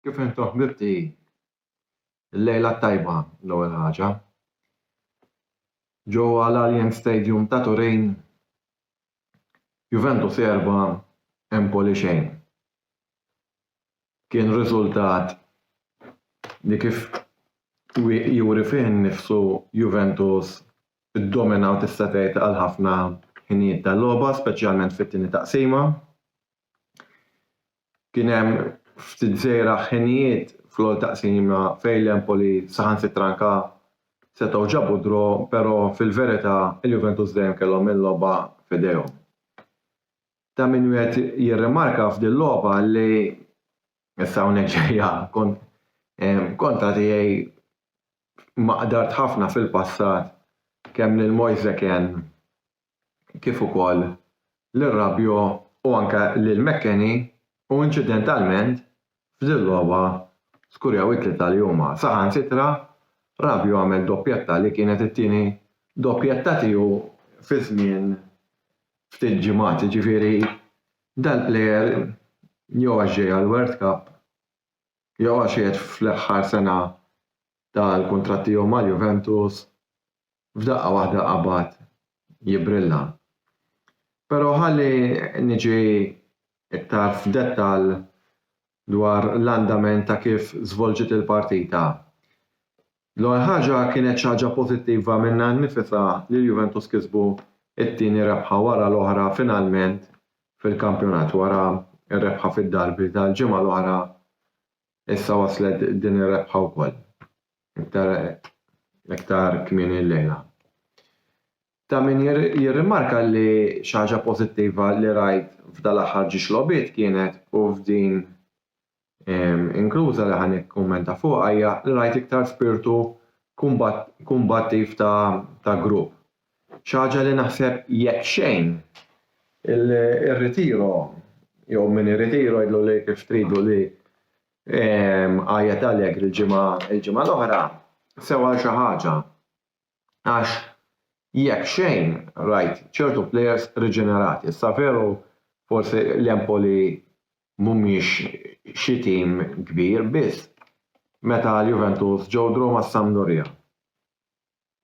Kif intom ħbibti l-lejla tajba l-ewwel ħaġa. Ġewwa l-Alien Stadium ta' Turin Juventus erba' Empoli xejn. kien riżultat li kif juri fih innifsu Juventus iddominaw tista' tgħid għal ħafna ħinijiet tal-logħba, speċjalment fit-tieni taqsima. Kien hemm ftit żgħira ħinijiet fl-ewwel taqsima fejn l-Empoli saħansitra anka setgħu ġabu d-draw, però fil-verità il-Juventus dejjem kellhom il-logħba f'idejhom. ta' min wieħed jirrimarka f'din logħba li issa hawnhekk ġejja kont kontra tiegħi ma qdart ħafna fil-passat kemm lil Moise Kean kif ukoll lil Rabiot u anke lil McKennie u inċidentalment F'din logħba skurjaw it-tlieta li huma saħansitra Rabiot għamel doppjetta li kienet it-tieni doppjetta tiegħu fi żmien ftit ġimgħat, jiġifieri dal-plejer jew għax ġej għall-World Cup jew għax qiegħed fl-aħħar sena tal-kuntratt tiegħu mal-Juventus f'daqqa waħda qabad jibbrilla. Però ħalli niġi iktar f'dettall dwar l-andament ta' kif żvolġiet il-partita. L-ewwel ħaġa kienet xi ħaġa pożittiva minnha nnifisha li l-Juventus kisbu t-tieni rebħa wara l-oħra finalment fil-kampjonat wara r-rebħa fid-derby tal-ġimgħa l-oħra Issa waslet din ir-rebħa wkoll, iktar iktar kmieni llejla. Ta' min jirrimarka li xi ħaġa pożittiva li rajt f'dal-aħħar ġiex logħbiet kienet u f'din inkluża li ħa nikkummenta fuqha hija li rajt iktar spirtu kumbattiv ta' grupp. Xi ħaġa li naħseb jekk xejn irritiro jew min irritiro jgħidlu li kif tridu li għajjet Allegri l-ġimgħa l-ġimgħa l-oħra sew għal xi ħaġa għax jekk xejn rajt ċertu plejers riġenerati. Issa veru forsi l-Empoli mhumiex xi tim kbir biss meta l-Juventus ġew draw mas-Sampdoria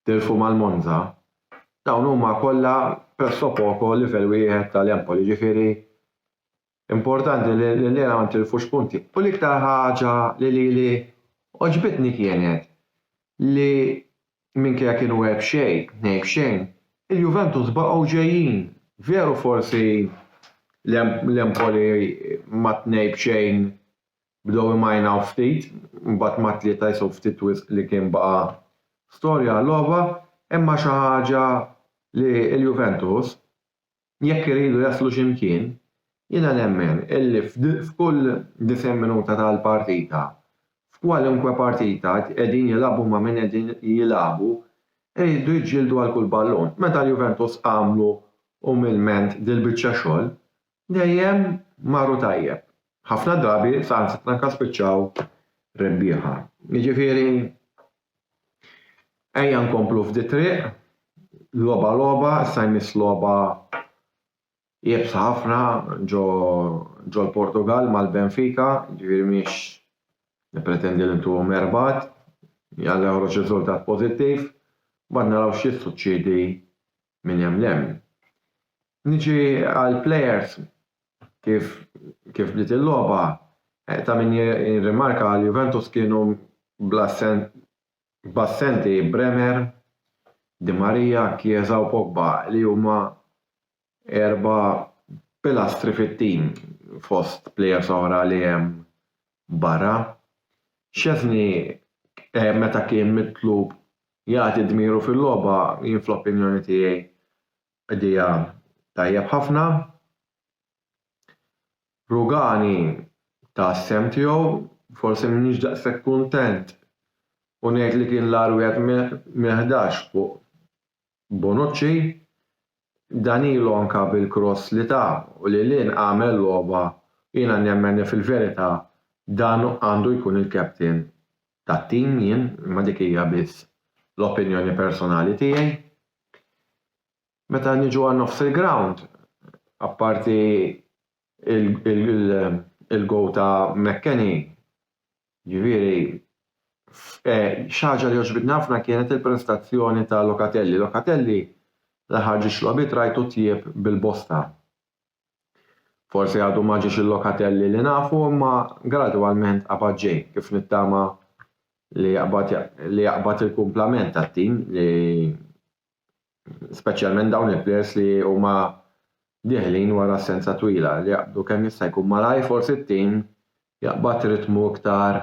tilfu mal-Monza, dawn huma kollha presso poco livell wieħed tal-Empoli, jiġifieri importanti li llejla ma ntilfux punti. U l-iktar ħaġa li lili għoġbitni kienet li minkejja kienu erbh xejn, tnejn b'xejn, il-Juventus baqgħu ġejjin. Veru forsi l-Empoli mat-tnejn b'xejn Bdew imajnaw ftit, imbagħad mat-tlieta jisgħu ftit wisq li kien baqa' storja għal-logħba, imma xi ħaġa li l-Juventus, jekk iridu jaslu xi mkien, jiena nemmen illi f'kull 90 minuta tal-partita, f'kwalunkwe partita qegħdin jilagħbu ma' min qegħdin jilagħbu, iridu jiġġieldu għal kull ballun. Meta l-Juventus għamlu umilment dil-biċċa xogħol, dejjem marru tajjeb. Ħafna drabi saħansitra anke spiċċaw rebbieħa. Jiġifieri ejja nkomplu f'dit-triq, logħba logħba, issa jmiss logħba iebsa ħafna ġo ġol-Portugall mal-Benfica, jiġifieri m'iniex nippretendi li ntuhom erbgħat, Alla joħroġ riżultat pożittiv, mbagħad naraw x'jissuċċiedi minn hemm 'l hemm. Niġi għall-plejers, kif kif bdiet il-logħba, ta' min jirrimarka għal Juventus kienu bl-assenti Bremer, Di Maria, Chiesa u Pogba li huma erba' pilastri fit-tim fost plejers oħra li hemm barra. Szczesny meta kien mitlub jagħti dmiru fil-logħba jien fl-opinjoni tiegħi Idea tajjeb ħafna. Rugani ta s-sehem tiegħu, forsi m'iniex daqshekk kuntent u ngħid li kien l-agħar wieħed mill-ħdax fuq Bonucci. Danilo anke bil-kross li ta u lil hinn għamel logħba u jiena nemmen li fil-verità dan għandu jkun il-captain tat-tim jien, imma dik hija biss l-opinjoni personali tiegħi. Meta niġu għal nofs il-grawnd, apparti il-goal ta' McKennie, jiġifieri xi ħaġa li għoġbitni ħafna kienet il-prestazzjoni ta' Locatelli. Locatelli l-aħħar ġiex logħbiet rajtu tjieb bil-bosta. Forsi għadu ma ġiex il-lokatelli li nafu imma gradwalment qabad ġej kif nittama li jaqbad li jaqbad il-kumplament tat-tim li speċjalment dawn il-plejers li huma dieħlin wara assenza twila li jaqbdu kemm jista' jkun malajr forsi t-tim jaqbad ritmu iktar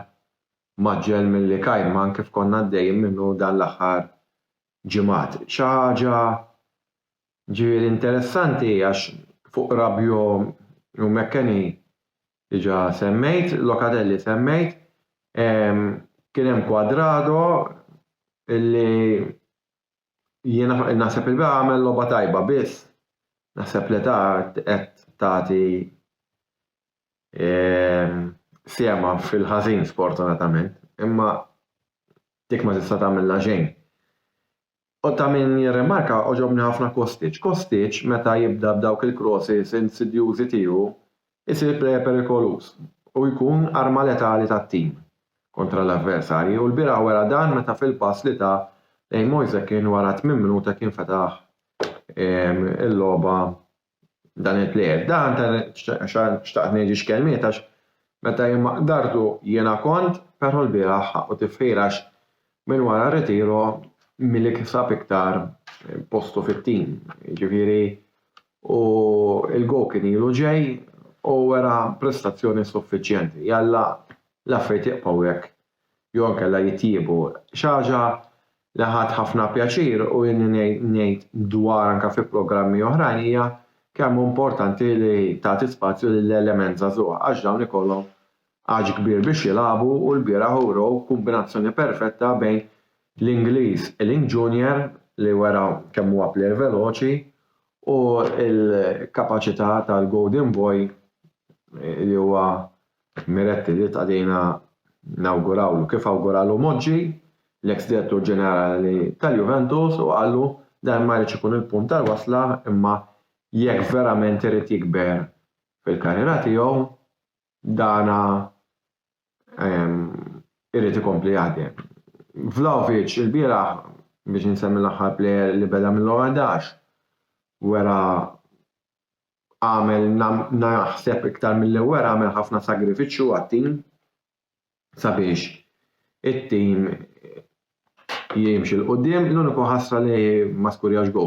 mgħaġġel milli kajman kif konna għaddejjin minnu dan l-aħħar ġimgħat. Xi ħaġa Ġifieri interessanti għax fuq Rabiot u McKennie diġà semmejt, Locatelli semmejt, kien hemm Cuadrado illi jiena naħseb li għamel logħba tajba biss naħseb l-età qed tagħti sehemha fil-ħażin sfortunatament imma dik ma tista' tagħmilha xejn. U ta' min jirrimarka, għoġobni ħafna Kostic. Kostic, meta jibda b'dawk il-crosses insidjużi tiegħu, isir player perikoluż u jkun arma letali tat-tim kontra l-avversarji u lbieraħ wera dan meta fil-pass li ta lejn Moise Kean wara tmien minuta kien fetaħ il-logħba dan il-plejer. Dan ta' xtaqt ngħid xi kelmiet għax meta jien ma qdartu jiena kont, però l-bieraħ ħaqqu tifħir għax minn wara r-ritiro Milik sab iktar postu fit-tim. Jiġifieri u l-goal kien ilu ġej u wera prestazzjoni suffiċjenti. Jalla l-affarijiet jibqgħu hekk jew inkella jitjiebu. Xi ħaġa li ħadt ħafna pjaċir u ilni ngħid dwarha anke fi programmi oħrajn hija kemm hu importanti li tagħti spazju lill-element żagħżugħ għax dawn ikollhom għaġ kbir biex jilagħbu u lbieraħ urew kombinazzjoni perfetta bejn l-Ingliż Ealing Junior li wera kemm huwa plejer veloċi u l-kapaċità tal-Golden Boy li huwa Miretti li tqadina nawgurawlu kif awguralu Moggi, l-eks Direttur Ġenerali tal-Juventus u qallu dan ma jridx ikun il-punt tal-wasla imma jekk verament irid jikber fil-karriera tiegħu dan irid ikompli jaħdem. Vlahovic ilbieraħ biex insemmi l-aħħar plejer li beda mill-ewwel ħdax wera għamel naħseb iktar milli wera għamel ħafna sagrifiċċju għat-tim sabiex it-tim jimxi l quddiem l-uniku ħasra li ma skurjax go.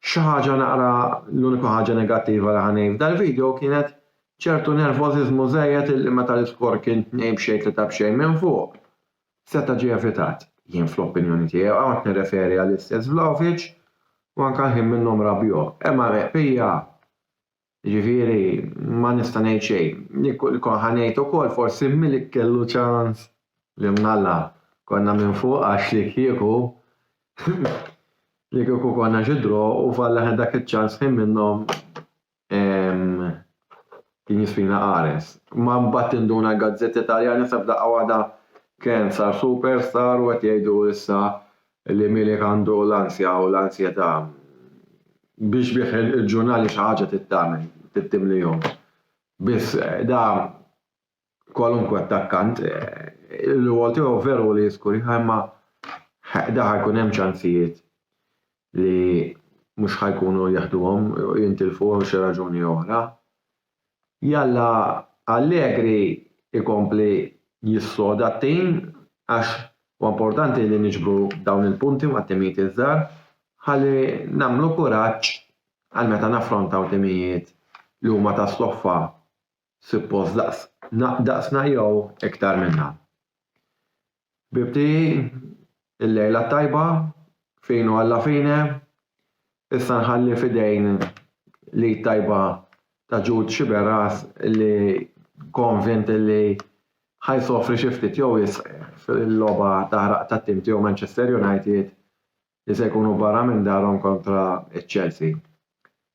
Xi ħaġa naqra l-uniku ħaġa negattiva li ħanej f'dal-video kienet ċertu nervożiżmu żejjed illi meta l-iskor kien tnejn b'xejn tlieta b'xejn minn fuq Seta' ġie evitat. Jien fl-opinjoni tiegħi, u hawn qed nirreferi għall-istess Vlahovic u anke għall-ħin minnhom Rabiot, hemm għargħeq pija, jiġifieri ma nista' ngħid xejn. Li kont ħa ngħid ukoll forsi Milik kellu ċans li mnalla konna minn fuq għax li kieku li kieku konna xi draw u falla aħna dak iċ-ċans ħin minnhom Kien jisfina qares. Ma mbagħad tinduna l-gazzetti Taljani sa f'daqqa waħda Ken sar superstar u qed jgħidu issa li Milik għandu l-ansja u l-ansjetà. Biex bih il-ġurnali xi ħaġa trid tagħmel, trid timlihom. Biss da kwalunkwe attakkant, il-rwol tiegħu veru li jiskurja imma da ħajkun hemm ċansijiet li mhux ħajkunu jeħduhom jintilfu għal xi raġuni oħra. Jalla Allegri ikompli jissoda t-tim għax u importanti li niġbru dawn il-punti ma' timijiet iż-żgħar ħalli nagħmlu kuraġġ għal meta naffrontaw timijiet li huma ta' stoffa suppost daqs daqsna jew iktar minna. Ħbibti il-lejla t-tajba, finu alla fine, issa nħalli f'idejn l-id tajba ta' Ġud Xiberas li konvint li ħajsofri xi ftit jew wisq fil-logħba taħraq tat-tim tiegħu Manchester United li se jkunu barra minn darhom kontra ċ-Chelsea.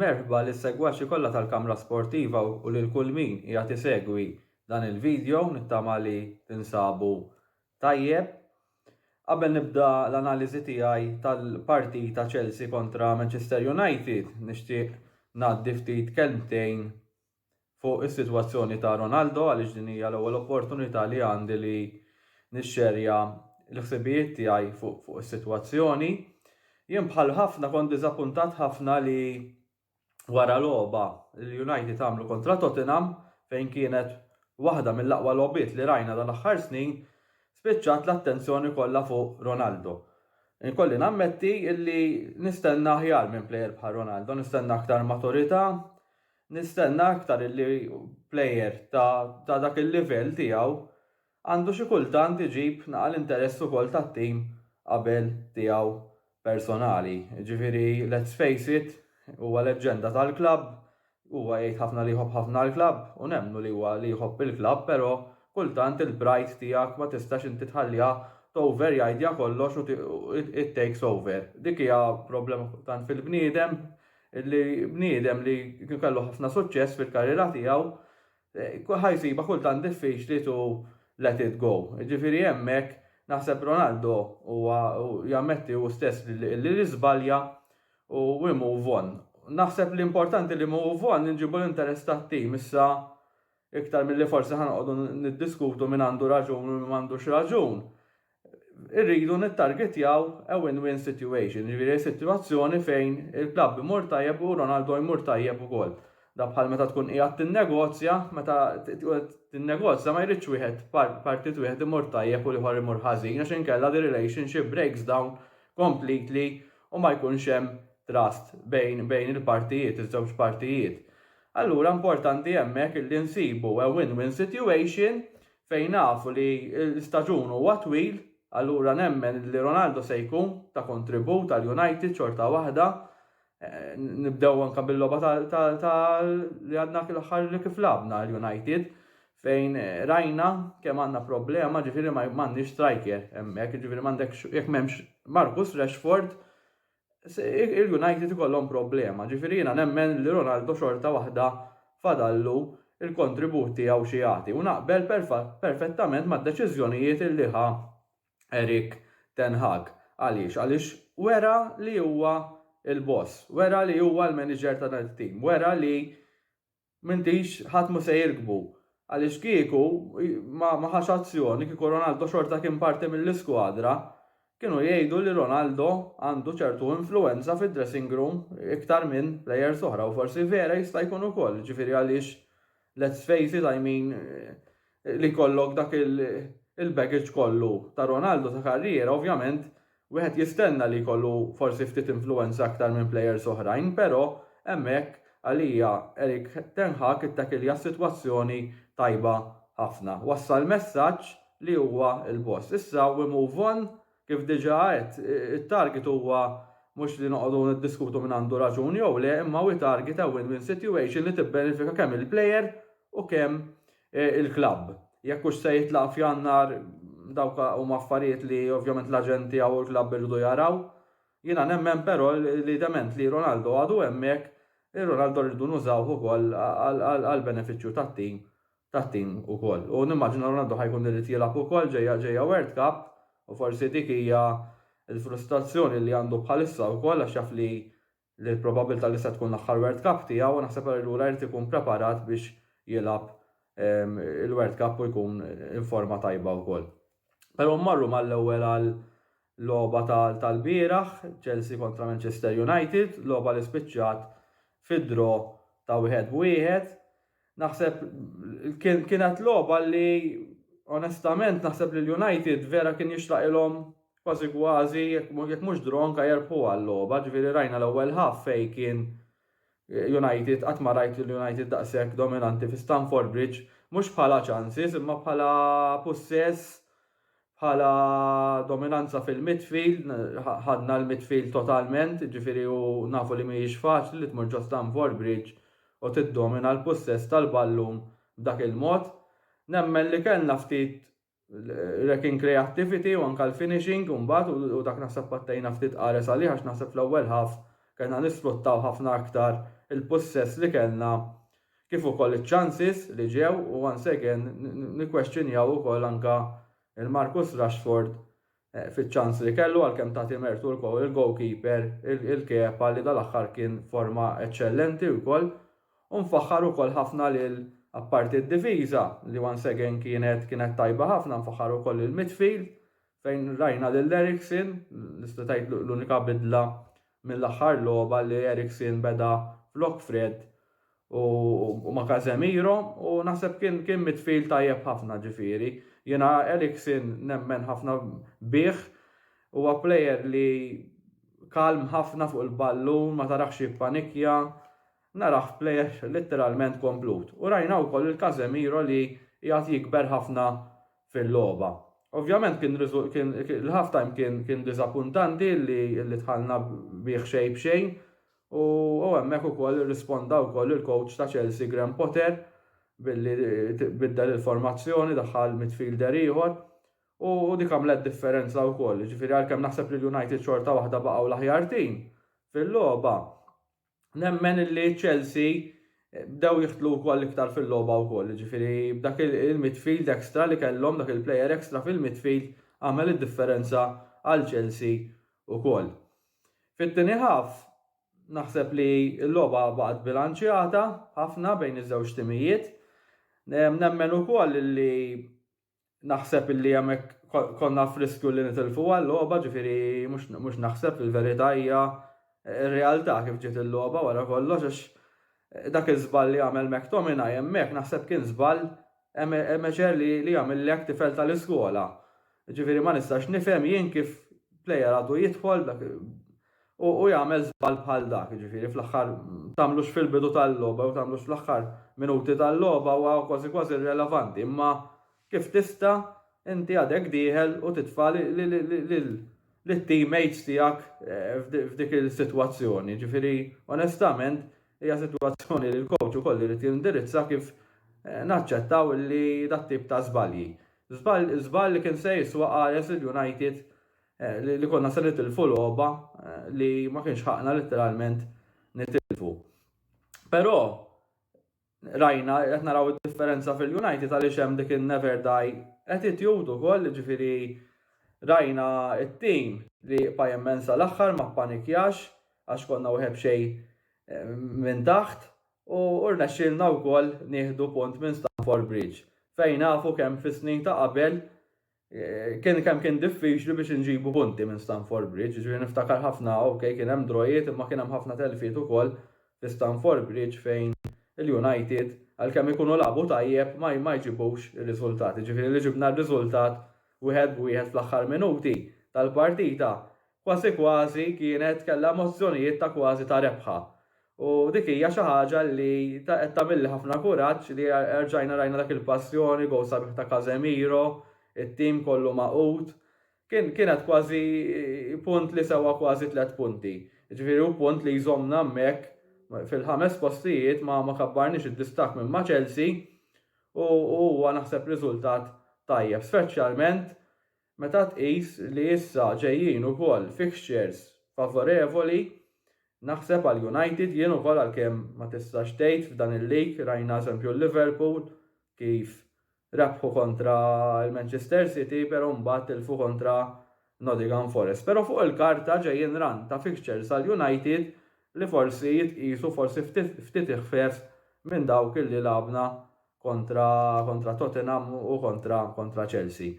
Merħba li segwaxi kollha tal-Kamra Sportiva u lil kull min hija tisegwi dan il-video nittama li tinsabu tajjeb. Qabel nibda l-analiżi tiegħi tal-partita Chelsea kontra Manchester United, nixtieq ngħaddi ftit kelmtejn fuq is-sitwazzjoni ta' Ronaldo għaliex din hija l-ewwel opportunità li għandi li nixxerja l-ħsibijiet tiegħi fuq fuq is-sitwazzjoni. Jien bħal ħafna kont diżappuntat ħafna li wara logħba li United għamlu kontra Tottenham fejn kienet waħda mill-aqwa logħbiet li rajna dal-aħħar snin spiċċat l-attenzjoni kollha fuq Ronaldo. Inkolli nammetti illi nistenna aħjar minn plejer bħal Ronaldo, nistenna aktar maturità, Nistenna aktar illi plejer ta' dak il-livell tiegħu għandu xi kultant iġib naqa' l-interess ukoll tat-tim qabel tiegħu personali. Jiġifieri let's face it, huwa leġġenda tal-klabb, huwa jgħid ħafna li jħobb ħafna l-klabb u nemmnu li huwa li jħobb il-klabb però kultant il-pride tiegħek ma tistax inti tħalliha toverjidja kollox u it takes over. Dik hija problema kultant fil-bniedem Illi bniedem li kien kellu ħafna suċċess fil-karriera tiegħu ħa jsibha kultant diffiċli to let it go. Jiġifieri hemmhekk naħseb Ronaldo huwa jammetti hu stess li li żbalja u we move on. Naħseb li importanti li move on inġibu l-interess tat-tim issa Iktar milli forsi ħa noqogħdu niddiskutu min għandu raġun u min m'għandux raġun, irridu nittargetjaw a win-win situation, jiġifieri sitwazzjoni fejn il-klabb imur tajjeb u Ronaldo jmur tajjeb ukoll. Dak bħal meta tkun qiegħed tinnegozja, meta tinnegozja ma jridx wieħed partit wieħed imur tajjeb u l-ieħor imur ħażin għax inkella the relationship breaks down completely u ma jkunx hemm trust bejn il-partijiet, iż-żewġ partijiet. Allura importanti hemmhekk illi nsibu a win-win situation fejn nafu li l-istaġun huwa twil, allura nemmen li Ronaldo se jkun ta' kontribut għal United xorta waħda, nibdew anke bil-logħba ta' li għadna l-aħħar li kif lagħabna l-United fejn rajna kemm għandna problema ġifieri m'għandniex striker hemmhekk, ġifieri m'għandekx jekk m'hemmx Marcus Rashford il-United ikollhom problema. Ġifieri jiena nemmen li Ronaldo xorta waħda fadallu l-kontribut tiegħu xi jagħti u naqbel perfettament mad-deċiżjonijiet li ħa Erik ten Hag. Għaliex? Għaliex wera li huwa l-boss, wera li huwa l-manager ta' dan it-tim, wera li M'intix, ħadd mhu se jirkbu. Għaliex kieku ma ma ħax azzjoni, kieku Ronaldo xorta kien parti mill-iskwadra, kienu jgħidu li Ronaldo għandu ċertu influwenza fid-dressing room iktar minn plejers oħra u forsi vera jista' jkun ukoll, jiġifieri għaliex let's face it, I mean, Li jkollok dak il-baggage kollu ta' Ronaldo ta' karriera ovvjament wieħed jistenna li jkollu forsi ftit influwenza aktar minn plejers oħrajn però hemmhekk għalija Erik ten Hag ittakilja s-sitwazzjoni tajba ħafna. Wassal messaġġ li huwa l-boss. Issa we move on kif diġà għedt it-target huwa mhux li noqogħdu niddiskutu min għandu raġun jew le imma we target a win-win situation li tibbenefika kemm il-plejer u kemm il-klabb. Jekk hux se jitlaq f'Jannar dawk huma affarijiet li ovvjament l-aġent tiegħu u l-klabb iridu jaraw. Jiena nemmen però li dement li Ronaldo għadu hemmhekk, ir-Ronaldo rridu nużawh ukoll għall-benefiċċju tat-tim tat-tim ukoll. U nimmaġina Ronaldo ħa jkun irid jilgħab ukoll ġejja ġejja World Cup u forsi dik hija l-frustrazzjoni li għandu bħalissa wkoll għax jaf li li l-probabbiltà li se tkun l-aħħar World Cup tiegħu, naħseb allura jrid ikun preparat biex jilgħab il-World Cup u jkun informa tajba wkoll. Però mmorru mal-ewwel għal logħba tal-bieraħ, Chelsea kontra Manchester United, logħba li spiċċat fid-draw ta' wieħed b'wieħed. Naħseb kienet logħba li onestament naħseb li l-United vera kien jixraqilhom kważi kważi jekk mhux draw anke jerbħu għal-logħba, ġifieri rajna l-ewwel half fejn kien United qatt ma rajt lil United daqshekk dominanti fi Stamford Bridge, mhux bħala chances imma bħala pussess Bħala dominanza fil-midfield, ħadna l-midfield totalment, jiġifieri u nafu li mhijiex faċli li tmur ġo Stamford Bridge u tiddomina l-pussess tal-ballun b'dak il-mod. Nemmen li kellna ftit rek in creativity u anke l-finishing imbagħad u dak naħseb pattejna ftit qares għalih għax naħseb fl-ewwel half kellna nisfruttaw ħafna aktar il-pussess li kellna kif ukoll iċ-chances li ġew u once again nikkwestjonjaw ukoll anke l-Marcus Rashford fiċ-chance li kellu għalkemm tagħti mertu lkoll il-goalkeeper il-Kepa li dal-aħħar kien f'forma eċċellenti wkoll u nfaħħar ukoll ħafna lil apparti d-difiża li once again kienet kienet tajba ħafna nfaħħar ukoll il-midfield fejn rajna lil Eriksen li seta' tgħid l-unika bidla mill-aħħar logħba li Eriksen beda flok Fred u ma' Casemiro u naħseb kien kien midfield tajjeb ħafna ġifieri. Jiena Eriksen nemmen ħafna bih, huwa player li kalm ħafna fuq il-ballun, ma tarahx jippanikja, narah player litteralment komplut. U rajna wkoll lil Casemiro li qiegħed jikber ħafna fil-logħba. Ovvjament kien l-half time kien kien diżappuntanti li li tħallna bih xejn b'xejn u hemmhekk ukoll irrisponda wkoll il-coach ta' Chelsea Graham Potter billi biddel il-formazzjoni daħħal midfielder ieħor u dik għamlet differenza wkoll. Ġifieri għalkemm naħseb li l-United xorta waħda baqgħu l-aħjar tim fil-logħba Nemmen illi Chelsea eh, bdew jiħtlu wkoll iktar fil-logħba wkoll, jiġifieri b'dak il-midfield extra li kellhom dak il-player extra fil-midfield għamel id-differenza għal Chelsea wkoll. Fit-tieni ħaf naħseb li l-logħba baqgħet bilanċjata ħafna bejn iż-żewġ timijiet. Nemmen ukoll li Naħseb illi hemmhekk konna f'riskju li nitilfu għal-logħba, ġifieri mhux naħseb li l-verità hija r-realtà kif ġiet il-logħba wara kollox għax dak iż-żball li għamel McTominay hemmhekk naħseb kien żball amateur li jagħmillek tifel tal-iskola. Ġifieri ma nistax nifhem jien kif player għadu jidħol U hu jagħmel żball bħal dak, jiġifieri fl-aħħar tagħmlux fil-bidu tal-logħba jew tagħmlux fl-aħħar minuti tal-logħba huwa kważi kważi irrelevanti, imma kif tista' inti għadek dieħel u titfa' lit-teammates tiegħek f'dik is-sitwazzjoni. Jiġifieri onestament hija sitwazzjoni li l-coach ukoll irid jindirizza kif naċċettaw li dat-tip ta' żbalji. Żball żball li kien se jiswa qares lil United li konna se nitilfu logħba li ma kienx ħaqna letteralment nitilfu. Però rajna qed naraw id-differenza fil-United għaliex hemm dik in-never die attitude ukoll, ġifieri rajna t-tim li jibqa' jemmen sal-aħħar ma ppanikjax għax konna wieħed b'xejn eh, minn taħt u rnexxielna wkoll nieħdu punt minn Stamford Bridge fejn nafu kemm fis-snin ta' qabel kien kemm kien diffiċli biex inġibu punti minn Stanford Bridge, ġifieri niftakar ħafna ok kien hemm drojiet imma kien hemm ħafna telfiet ukoll fi Stanford Bridge fejn il-United għalkemm ikunu lagħbu tajjeb ma ma jġibux ir-riżultati. Ġifieri li ġibna r-riżultat wieħed b'wieħed fl-aħħar minuti tal-partita Kważi kważi kienet kellha emozzjonijiet ta' kważi ta' rebħa. U dik hija xi ħaġa li qed tagħmilli ħafna kuraġġ li erġajna rajna dak il-passjoni, gowl sabiħ ta' Casemiro, it-tim kollu magħqud. Kien kienet kważi punt li sewa kważi tliet punti. Jiġifieri hu punt li jżommna hemmhekk fil-ħames postijiet ma ma kabbarniex id-distakk minn ma' Chelsea u huwa naħseb riżultat tajjeb, speċjalment Meta tqis li issa ġejjin ukoll fixtures favorevoli, naħseb għal United jien ukoll għalkemm ma tistax tgħid f'dan il-league rajna eżempju Liverpool kif rebħu kontra l-Manchester City pero mbagħad tilfu kontra Nottingham Forest. Pero fuq il-karta ġejjin run ta' fixtures għal United li forsi jitqiesu forsi ftit iħfef minn dawk li lagħbna kontra kontra Tottenham u kontra kontra Chelsea.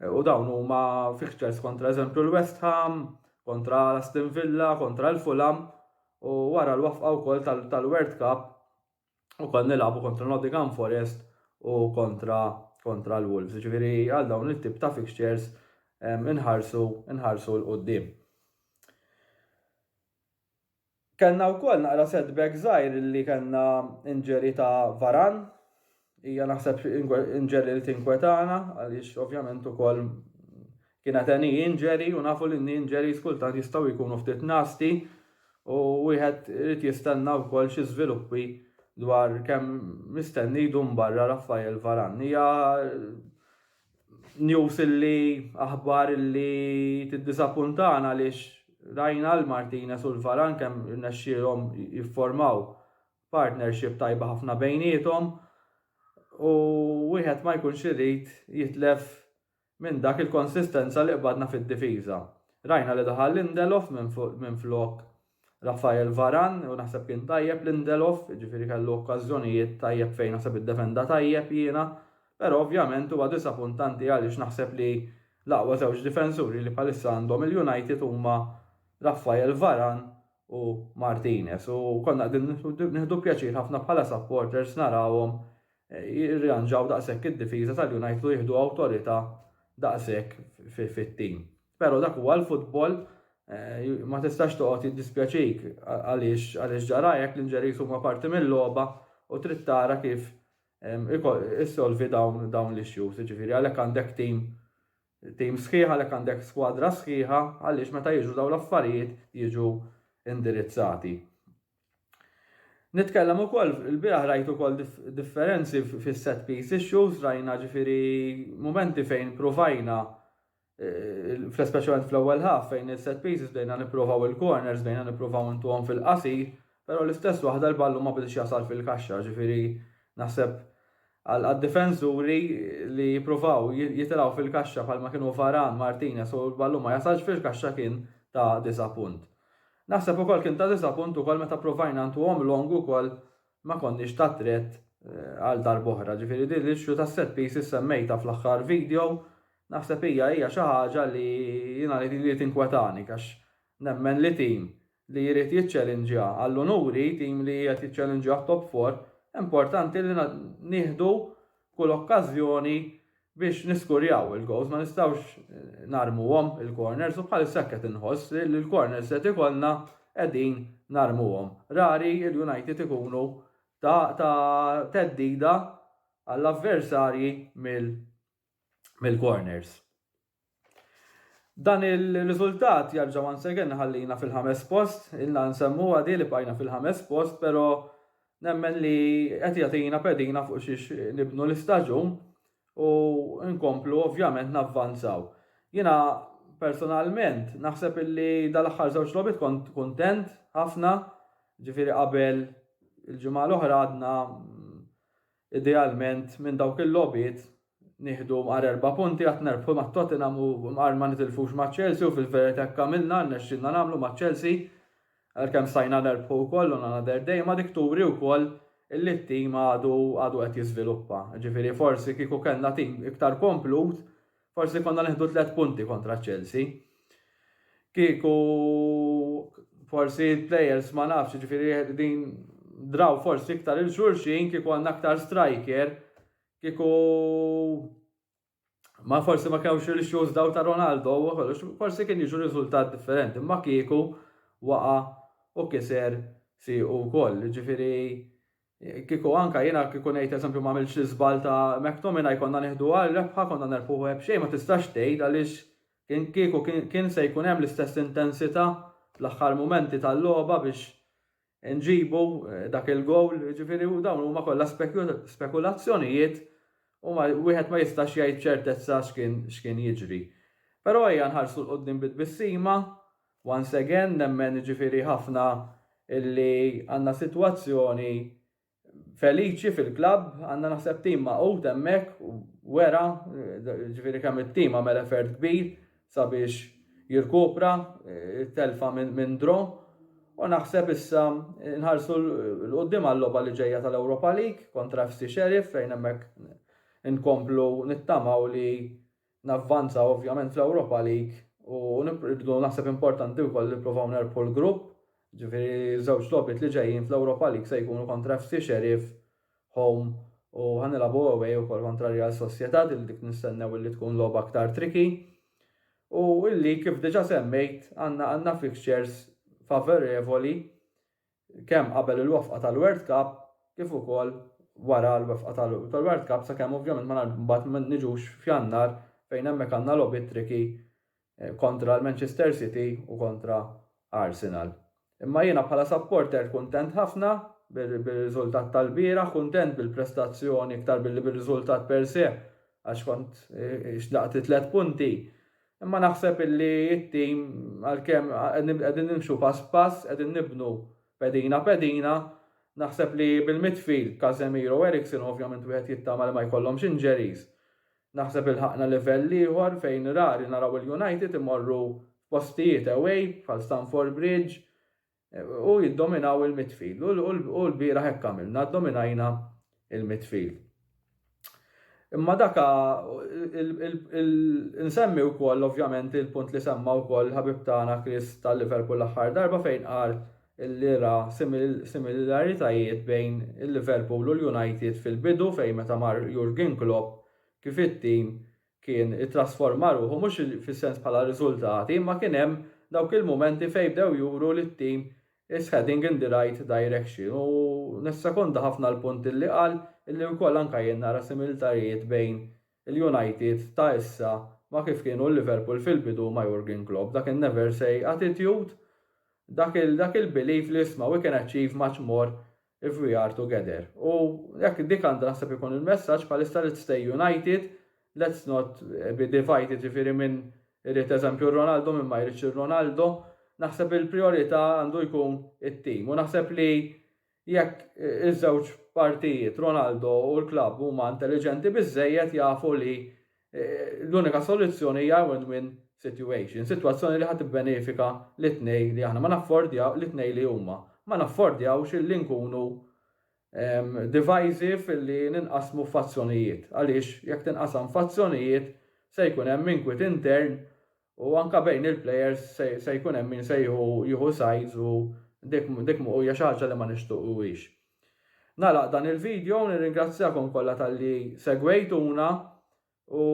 U dawn huma fixtures kontra eżempju l-West Ham, kontra l-Aston Villa, kontra l-Fulham u wara l-wafqa wkoll tal-World Cup u kol nilabu kontra Nottingham Forest u kontra kontra l-Wolves. Ġifieri għal dawn it-tip ta' fixtures inħarsu inħarsu l qudiem Kellna wkoll naqra setback żgħir li kellna injury ta' Varane. Hija naħseb injury li tinkwetana għaliex ovvjament ukoll kienet a knee injury u nafu li knee injuries kultant jistgħu jkunu ftit nasty u wieħed irid jistenna wkoll xi żviluppi dwar kemm mistenni jdum barra Raphael Varane. Hija news illi aħbar illi tiddisapuntana għaliex rajna l-Martinez u l-Varan kemm irnexxielhom jifformaw partnership tajba ħafna bejniethom u wieħed ma jkunx irid jitlef minn dak il-konsistenza li qbadna fid-difiża. Rajna li daħal Lindelof minn flok Raphael Varane u naħseb kien tajjeb Lindelof, jiġifieri kellu okkażjonijiet tajjeb fejn naħseb iddefenda tajjeb jiena, però ovvjament huwa disapuntanti għaliex naħseb li l-aqwa żewġ difensuri li bħalissa għandhom il-United huma Raphael Varane u Martinez u konna qegħdin nieħdu pjaċir ħafna bħala supporters narawhom jirriranġaw daqshekk id-difiża tal-United u jieħdu awtorità daqshekk fit-tim. Pero dak huwa l-futbol eh, ma tistax toqgħod jiddispjaċik għaliex għaliex ġarajek l-inġeris huma parti mill-logħba u trid tara kif issolvi dawn dawn l-issues, ġifieri għalhekk għandek tim tim sħiħa għalhekk għandek skwadra sħiħa għaliex meta jiġu dawn l-affarijiet jiġu indirizzati. Nitkellem ukoll il-bieraħ rajt ukoll differenzi fis-set piece issues rajna ġifieri momenti fejn provajna Fl-speċjalment fl-ewwel ħaf fejn il-set pieces bdejna nipprovaw il-corners bdejna nipprovaw intuhom fil-qasir, però l-istess waħda l-ballun ma bidiex jasal fil-kaxxa, ġifieri naħseb għad-difensuri li jippruvaw jitilgħu fil-kaxxa bħalma kienu Varane, Martinez u l-ballun ma jasalx fil-kaxxa kien ta' disapunt. Naħseb ukoll kien ta' disapunt ukoll meta ppruvajna ntuhom long ukoll ma konniex ta' threat għal darb'oħra. Ġifieri din l-issue tas-set pieces semmejtha fl-aħħar video, naħseb hija hija xi ħaġa li jiena li li tinkwetani għax nemmen li team li jrid jiċċelinġja għall-unuri, team li qiegħed jiċċelinġja għat-top four, importanti li nieħdu kull okkażjoni Biex niskurjaw il-gowls ma nistgħux narmuhom il-corners u bħalissa hekk qed inħoss li l-corners li qed ikollna qegħdin narmuhom. Rari l-United ikunu ta' ta' theddida għall-avversarji mill-corners. Dan il-riżultat jarġa' once again iħallina fil-ħames post, ilna nsemmuha di li bqajna fil-ħames post, però nemmen li qed jagħtina pedina fuq xiex nibnu l-istaġun u nkomplu ovvjament navvanzaw. Jiena personalment naħseb illi dal-aħħar żewġ logħbiet kont kuntent ħafna, ġifieri qabel il-ġimgħa l-oħra għadna Idealment minn dawk il-logħbiet nieħdu mqar erba' punti għad nerbħu ma' Tottenham u mqar ma nitilfux ma' Chelsea u fil-verita' hekk għamilna, rnexxielna nagħmlu ma' Chelsea għalkemm stajna nerbħu wkoll on another day imma dik turi wkoll illi t-tim għadu għadu qed jiżviluppa. Ġifieri forsi kieku kellna tim iktar komplut Forsi konna neħdu tliet punti kontra Chelsea. Kieku forsi players ma nafx, ġifiri din draw forsi iktar il-xurxin, kieku għanna iktar striker, kieku ma forsi ma kewx il-xus daw ta' Ronaldo, forsi kien jiġu riżultat differenti, ma kieku waqa u kiser si u koll, ġifiri Kieku anke jiena kieku ngħid eżempju m'għamiltx l-iżball ta' McTominay konna nieħdu għal rebħa konna nerbħuh għeb xejn ma tistax tgħid għaliex kien kieku kien se jkun hemm l-istess intensità fl-aħħar mumenti tal-logħba biex inġibu dak il-gowl jiġifieri dawn huma kollha spekulazzjonijiet u ma wieħed ma jistax jgħid b'ċertezza x'kien x'kien jiġri. Però ejja nħarsu 'l quddiem bi tbissima Once again nemmen jiġifieri ħafna illi għandna sitwazzjoni feliċi fil-klabb, għandna naħseb tim magħqud hemmhekk u wera jiġifieri kemm it-tim għamel effort kbir sabiex jirkupra t-telfa minn draw u naħseb issa nħarsu 'l quddiem għal-logħba li ġejja tal-Europa League kontra FC Sheriff fejn hemmhekk inkomplu nittamaw li navvanza ovvjament fl-Ewropa League u nibqgħu naħseb importanti wkoll li nippruvaw nerbħu l-grupp, ġifieri ż-żewġ logħbiet li ġejjin fl-Ewropa League se jkunu kontra FC Sheriff, home, u ħa nilagħbu away ukoll kontra Real Sociedad li dik nistennew illi tkun logħba aktar tricky. U l-league kif diġà semmejt għandna għandna fixtures favorevoli kemm qabel il-wefqa tal-World Cup kif ukoll wara l-wefqa tal-World Cup sakemm ovvjament ma mbagħad ma niġux f'Jannar fejn hemmhekk għandna logħbiet tricky kontra l-Manchester City u kontra Arsenal. Imma jiena bħala supporter kuntent ħafna bir-riżultat tal-bieraħ, kuntent bil-prestazzjoni iktar billi bir-riżultat per se għax kont xtaqt it-tliet punti Imma naħseb illi t-tim għalkemm qegħdin nimxu pass b'pass, qegħdin nibnu pedina pedina, naħseb li bil-midfield, Casemiro u Eriksen ovvjament wieħed jittama li ma jkollhomx injuries. Naħseb ilħaqna livell ieħor fejn rari naraw il-United imorru f'postijiet away bħal Stamford Bridge, U jiddominaw il-midfield. U l-bieraħ hekk għamilna, ddominajna il-midfield. Imma daka nsemmi wkoll ovvjament il-punt li semma wkoll ħabib tagħna Chris tal-Liverpool l-aħħar darba fejn qal li ra similaritajiet bejn il-Liverpool u l-United fil-bidu fejn meta mar Jurgen Klopp kif it-tim kien ittrasforma ruħu mhux fis-sens bħala riżultati imma kien hemm dawk il-mumenti fejn bdew juru li t-tim is heading in the right direction u nissekonda ħafna l-punt li qal illi wkoll anke jien nara similtarijiet bejn il-United ta' issa ma' kif kienu l-Liverpool fil-bidu ma' Jurgen Klopp, dak in-never say attitude, dak il-belief li isma' we can achieve much more If we are together. U jekk dik għandha naħseb ikun il-messaġġ bħalissa let's stay united, let's not be divided ġifieri minn irid eżempju Ronaldo minn ma jridx ir-Ronaldo, naħseb il-priorità għandu jkun it-tim. U naħseb li jekk iż-żewġ partijiet Ronaldo u l-klabb huma intelliġenti biżżejjed jafu li Eh, l-unika soluzzjoni hija win-win situation, sitwazzjoni li ħadd benefika li tnej li aħna ma naffordjaw li tnej li huma. Ma naffordjawx li nkunu ehm, divisive li ninqasmu fazzjonijiet. Għaliex jekk tinqasam fazzjonijiet se jkun hemm inkwit intern U anke bejn il-plejers se jkun hemm min se jieħu sides u dik hija xi ħaġa li ma nixtuquhiex. Nagħlaq dan il-video u nirringrazzjakom kollha talli segwejtuna u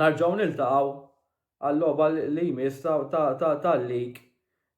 narġgħu niltaqgħu għal-logħba li jmiss tal-league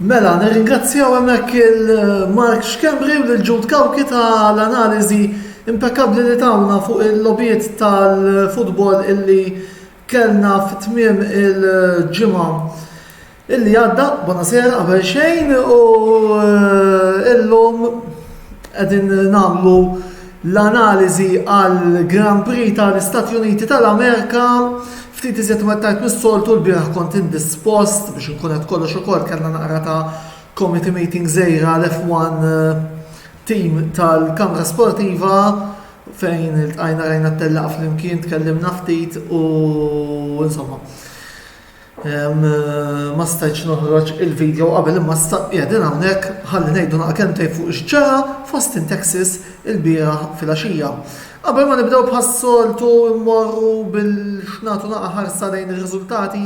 Mela, nirringrazzjaw hemmhekk il Mark Schembri u lil Jude Cauchi ta' l-analiżi impekkabbli li tawna fuq il-logħbiet tal-futbol illi kellna fi tmiem il-ġimgħa. Illi għadda, bonasera, qabel xejn u eh, illum qegħdin nagħmlu l-analiżi għal Grand Prix tal-Istati Uniti tal-Amerika ftit iżjed ma tajt mis-soltu l-biraħ kont indispost biex nkun qed kollox ukoll kellna naqra ta' committee meeting żejra l-F1 eh, team tal-Kamra Sportiva fejn il-tqajna rajna t-tellaq fl-imkien tkellimna ftit u insomma. Ma stajtx noħroġ il-video qabel imma issa qiegħdin hawnhekk ħalli ngħidu naqa' kelmtejn fuq x'ġara f'Austin, Texas ilbieraħ filgħaxija. Qabel ma nibdew bħas-soltu mmorru biex nagħtu naqa' ħarsa lejn ir-riżultati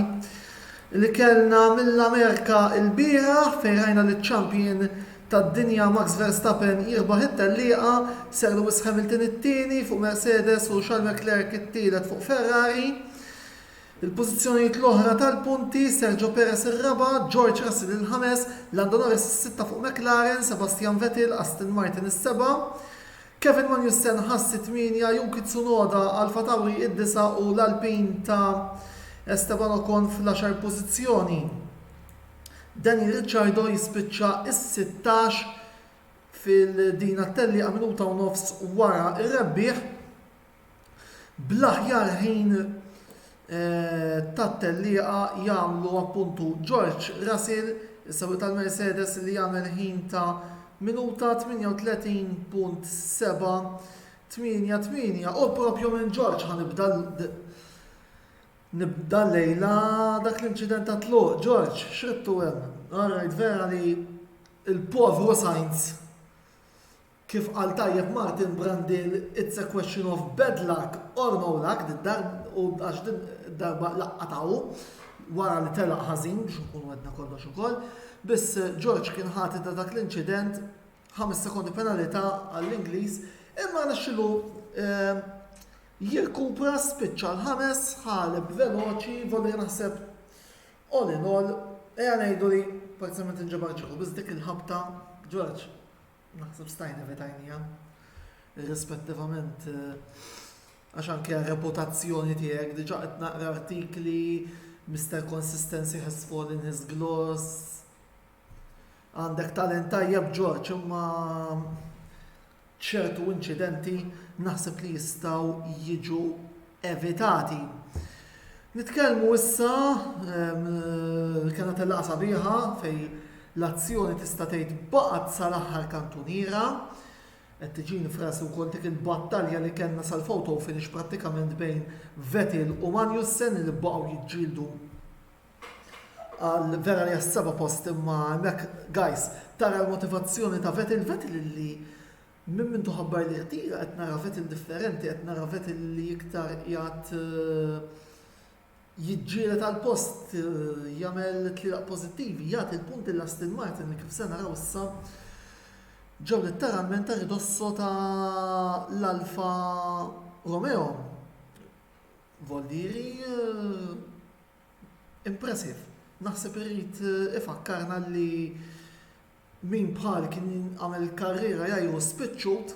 li kellna mill-Amerika ilbieraħ fejn rajna liċ-champion tad-dinja Max Verstappen jirbaħ it-tellieqa, Sir Lewis Hamilton it-tieni fuq Mercedes u Charles Leclerc it-tielet fuq Ferrari. Il-pożizzjonijiet l-oħra tal-punti, Sergio Perez ir-raba', George Russell il-ħames, Lando Norris is-sitta fuq McLaren, Sebastian Vettel, Aston Martin is-seba', Kevin Magnussen Haas it-tmienja, Yuki Tsunoda, AlphaTauri id-disa' u l-Alpine ta' Esteban Ocon fl-għaxar pożizzjoni. Daniel Ricciardo jispiċċa s-sittax fil-din għat-tellieqa minuta u nofs wara r-rebbieħ. bl-aħjar ħin tat-tellieqa jagħmlu appuntu George Russell, is-sewwieq tal-Mercedes li għamel ħin ta' minuta 38.788 u proprju minn George ħa nibda nibda llejla dak l-inċident tat-tluq. George, x'ridtu hemm? Alright vera li l-povru Sainz Kif qal tajjeb Martin Brandil, it's a question of bad luck or no luck din darba għax din darba laqqatha hu wara li telaq ħażin biex nkunu għedna kollox ukoll. Biss George kien ħati ta' dak l-inċident 5 sekondi penalità għall-Ingliż imma nixxilu eh, jirkupra spiċċa l-ħames ħaleb veloċi volli naħseb all in all eja ngħidu li parzialment inġabar ġeħu biss dik il-ħabta George Naħseb stajna evitajnija. Irrispettivament għax anke reputazzjoni tiegħek diġà qed naqra artikli Mr. Consistency has fallen his gloss. Għandek talent tajjeb Ġorġ imma ċertu inċidenti naħseb li jistgħu jiġu evitati. Nitkellmu issa kena tellaqgħa sabiħa fej l-azzjoni tista' tgħid baqgħet sal-aħħar kantuniera. Qed tiġini frasu wkoll dik il-battalja li kellna sal-photo finish prattikament bejn Vettel u Magnussen li baqgħu jiġġieldu għal vera li għas-seba post imma hemmhekk guys tara l-motivazzjoni ta' Vettel Vettel li Minn mindu ħabbar li jtira qed nara vet indifferenti, qed nara vet li iktar qiegħed jiġġieled għal post, jagħmel tlielaq pożittivi, jagħti l-punt lil Aston Martin li kif se naraw issa ġew litteralment a ridosso ta' l-Alfa Romeo. Voldieri impressive. Naħseb irid ifakkarna li Min bħali kien għamel il-karriera jgħiru spiċċut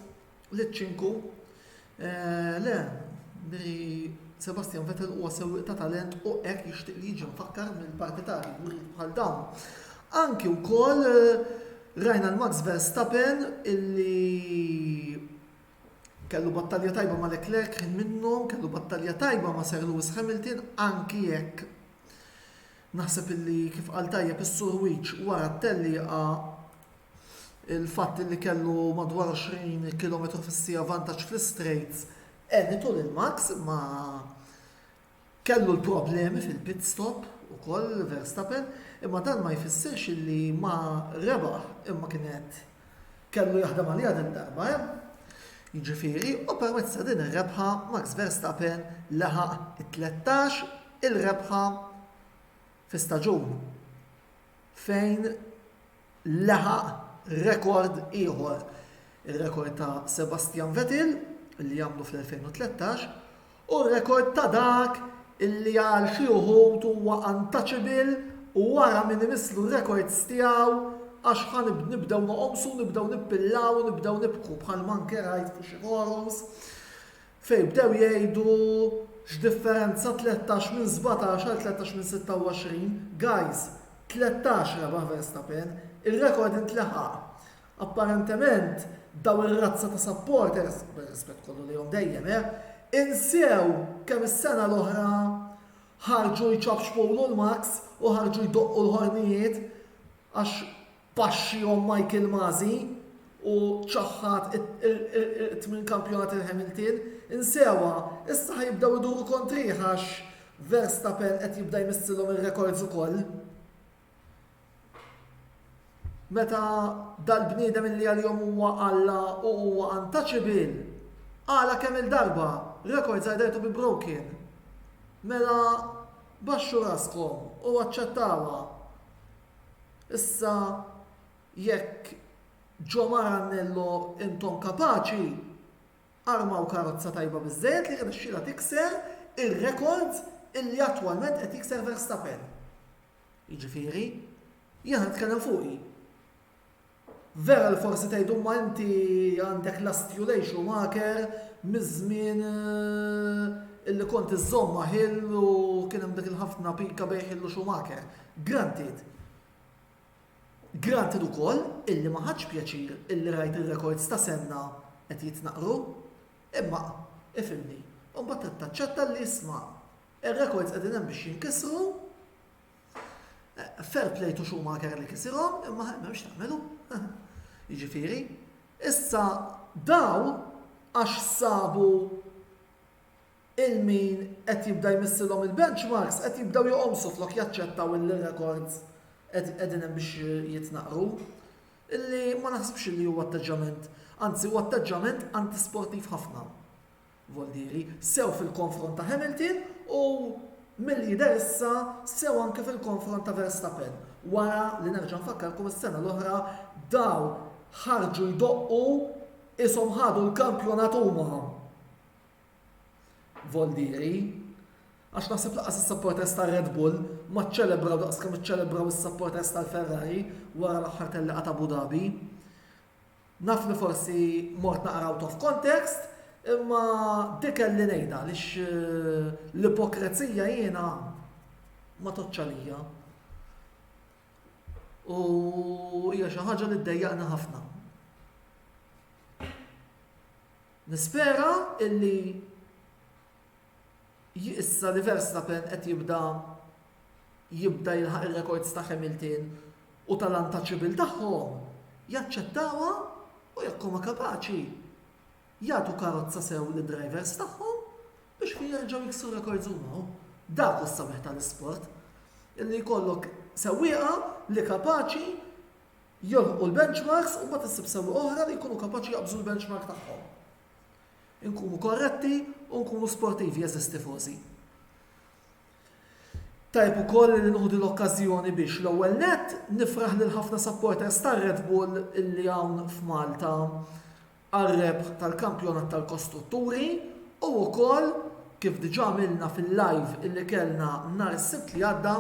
liċ-ċinku? Le, li Sebastian Vettel huwa sewwieq ta' talent u hekk jixtieq li jiġi mfakkar mill-partitarji wrid bħal dawn. Anki wkoll rajna l-Max Verstappen illi kellu battalja tajba ma' Leclerc kien minnhom, kellu battalja tajba ma' Sir Lewis Hamilton, anki jekk Naħseb illi kif qal tajjeb is-Sur Wiċċ wara t-tellieqa, il-fatt illi kellu madwar 20 kilometru fis-siegħa vantaġġ fl-istrejts għenitu lil Max imma kellu l-problemi fil-pit stop ukoll Verstappen imma dan ma jfissirx illi ma rebaħ imma kienet kellu jaħdem għaliha din darba hemm, jiġifieri u permezz ta' din ir-rebħa Max Verstappen laħaq it-tlettax il rebħa fi staġun fejn laħaq rekord ieħor, ir-rekord ta' Sebastian Vettel li għamlu fl-2013 u rekord ta' dak li għal xi wħud huwa untouchable u wara min imislu r-rekords tiegħu għax ħa nibdew noqomsu, nibdew nippillaw u nibdew nibku bħalma anke rajt fuq xi forums fejn bdew jgħidu x'differenza 13 minn 17 għal 13 minn 26, guys, 13 rebaħ Verstappen, ir-rekord intleħaq. Apparentement, dawn ir-razza ta' supporters, bir-rispett kollu lejhom dejjem, eh, insew kemm is-sena l-oħra ħarġu jċapċpulu l-maks u ħarġu jdoqqu l-ħornijiet għax paxxihom Michael Masi u ċaħħad it-tmien kampjonat il-Hamilton. Insewha, issa ħajibdew iduru kontrih għax Verstappen qed jibda jmissilhom ir-rekords ukoll. Meta dal-bniedem illi għalihom huwa Alla u huwa untouchable, għala kemm il-darba rekords either to be broken. Mela baxxu raskom u aċċettawha. Issa jekk ġo Maranello intom kapaċi, armaw karozza tajba biżżejjed li jirnexxilha tikser ir-rekords illi attwalment qed jikser Verstappen. Jiġifieri, jien qed nitkellem fuqi. Vera li forsi tgħid imma inti għandek last you lay Schumacher miż-żmien eh, illi kont iżżomm ma' Hill u kien hemm dik il-ħafna pika bejn Hill u Schumacher. Granted. Granted ukoll illi ma ħadx pjaċir illi rajt ir-rekords ta' senna qed jitnaqru. Imma, ifimni, u mbagħad taċċetta li isma' Ir-rekords qegħdin hemm biex jinkisru. Fair play to Schumacher li kisirhom, imma m'hemmx tagħmelu. Jiġifieri, issa daw għax sabu il-min qed jibda jmissilhom il-benchmarks qed jibdew joqomsu flok jaċċettaw il-rekords qegħdin hemm biex jitnaqru. Illi ma naħsibx li huwa atteġġament, anzi huwa atteġġament antisportiv ħafna. Voldieri, sew fil-konfront ta' Hamilton u, milli jidher issa, sew anki fil-konfront ta' Verstappen wara li nerġa' nfakkarkom is-sena l-oħra dawn ħarġu jdoqqu qishom ħadu l-kampjonat huma, Voldieri, għax naħseb lanqas is-supporters tar-Red Bull ma ċċelebraw daqs kemm iċċelebraw is-supporters tal-Ferrari wara l-aħħar tellieqa t'Abu Dhabi. Naf li forsi mort naqra out of context, imma dik kelli ngħidha għaliex l-ipokrezija jiena ma tgħoddx għalija. U hija xi ħaġa li ddejjaqni ħafna. Nispera illi Hi issa li Verstappen qed jibda jibda jilħaq ir-rekords ta' Hamilton u tal-untouchable tagħhom, jaċċettawha u jekk huma kapaċi, jagħtu karozza sew lid-drivers tagħhom biex fih jerġgħu jiksru rekords huma hu. Dak hu s-sabiħ tal-isport. Illi jkollok sewwieqa li kapaċi jolħqu l-benchmarks u mbagħad issib sewwieqa oħra li jkunu kapaċi jaqbżu l-benchmark tagħhom. Inkunu korretti u nkunu sportivi jeżis tifożi. Tajb ukoll li nuħdu l-okkażjoni biex l-ewwel nett nifraħ lil ħafna supporters tar-Red Bull illi hawn f'Malta għar-rebħ tal-Kampjonat tal-Kostrutturi u wkoll Kif diġà għamilna fil-live illi kellna nhar is-Sibt li għadda,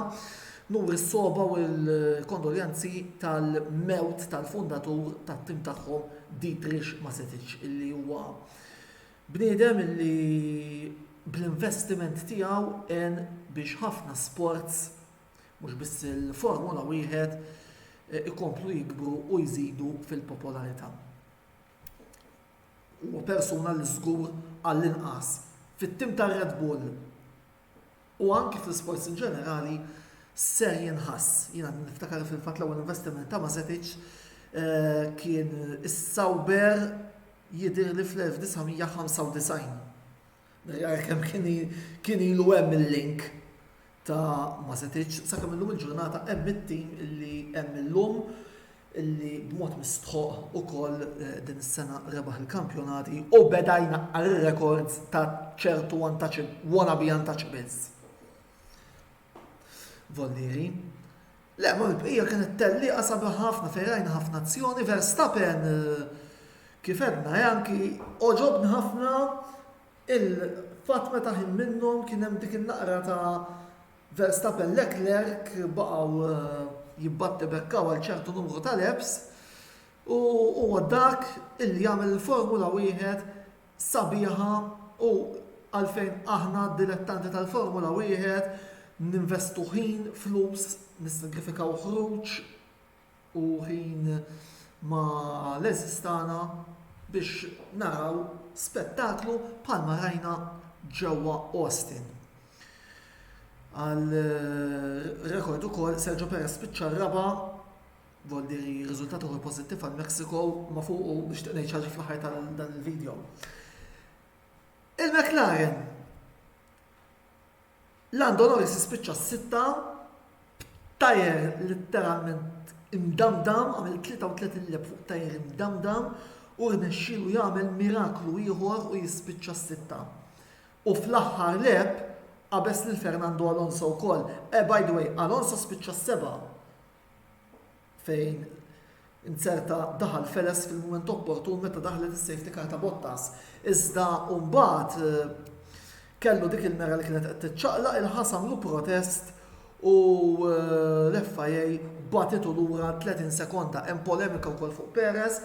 nuri s-sogħba u l-kondoljanzi tal-mewt tal-fundatur tat-tim tagħhom Dietrich Masetic illi huwa bniedem illi bl-investiment tiegħu għen biex ħafna sports, mhux biss il-Formula Wieħed, ikomplu jikbru u jżidu fil-popolarità. Huwa persuna li żgur għall-inqas fit-tim tar-Red Bull u anki fl-isports in ġenerali ser jinħass. Jiena niftakar fil-fatt l-ewwel investiment ta' Mazetic kien is-Sauber jidhirli fl-1995. Nirrjara kemm kien ilu hemm il-link ta' ma setitx, sakemm illum il-ġurnata hemm it-tim illi hemm illum illi b'mod mistħoq ukoll eh, din is-sena rebaħ il-kampjonati u beda jnaqqar ir-rekords ta' ċertu wantaċ wannabe untouchables. Vollieri, Le, imma l-bqija kienet tellieqa sabiħa ħafna fejn rajna ħafna azzjoni, Verstappen kif għedna eh, anki oġobni ħafna il-fatt meta ħin minnhom kien hemm dik in-naqra ta' Verstappen Leclerc baqgħu eh, jibbatti bekkaw għal ċertu numru ta' leps u huwa dak illi jagħmel il-Formula wieħed sabiħa u għalfejn aħna dilettanti tal-Formula Wieħed ninvestu ħin, flus, nissagrifikaw ħruġ u ħin ma' l-għeżież tagħna biex naraw spettaklu bħalma rajna ġewwa Austin. Għal rekord ukoll Sergio Perez spiċċa r-raba' Voldi riżultat uħor pożittiv għal Mexico ma fuqu nixtieq ngħid ħaġa fl-aħħar tal dan il-video. Il-McLaren Lando Norris ispiċċa s-sitta tajer letteralment imdamdam għamil 33 lep fuq tajer imdamdam u rnexxilu jagħmel miraklu ieħor u jispiċċa s-sitta. U fl-aħħar lep qabeż lil Fernando Alonso wkoll. Eh by the way, Alonso spiċċa s-seba' fejn inzerta daħal Feles fil-mument opportun meta daħlet is-safety car ta' Bottas. Iżda mbagħad eh, kellu dik il-mera li kienet qed tiċċaqlaq il-ħasam lu protest u eh, l-FIA batitu lura 30 sekonda hemm polemika wkoll fuq Perez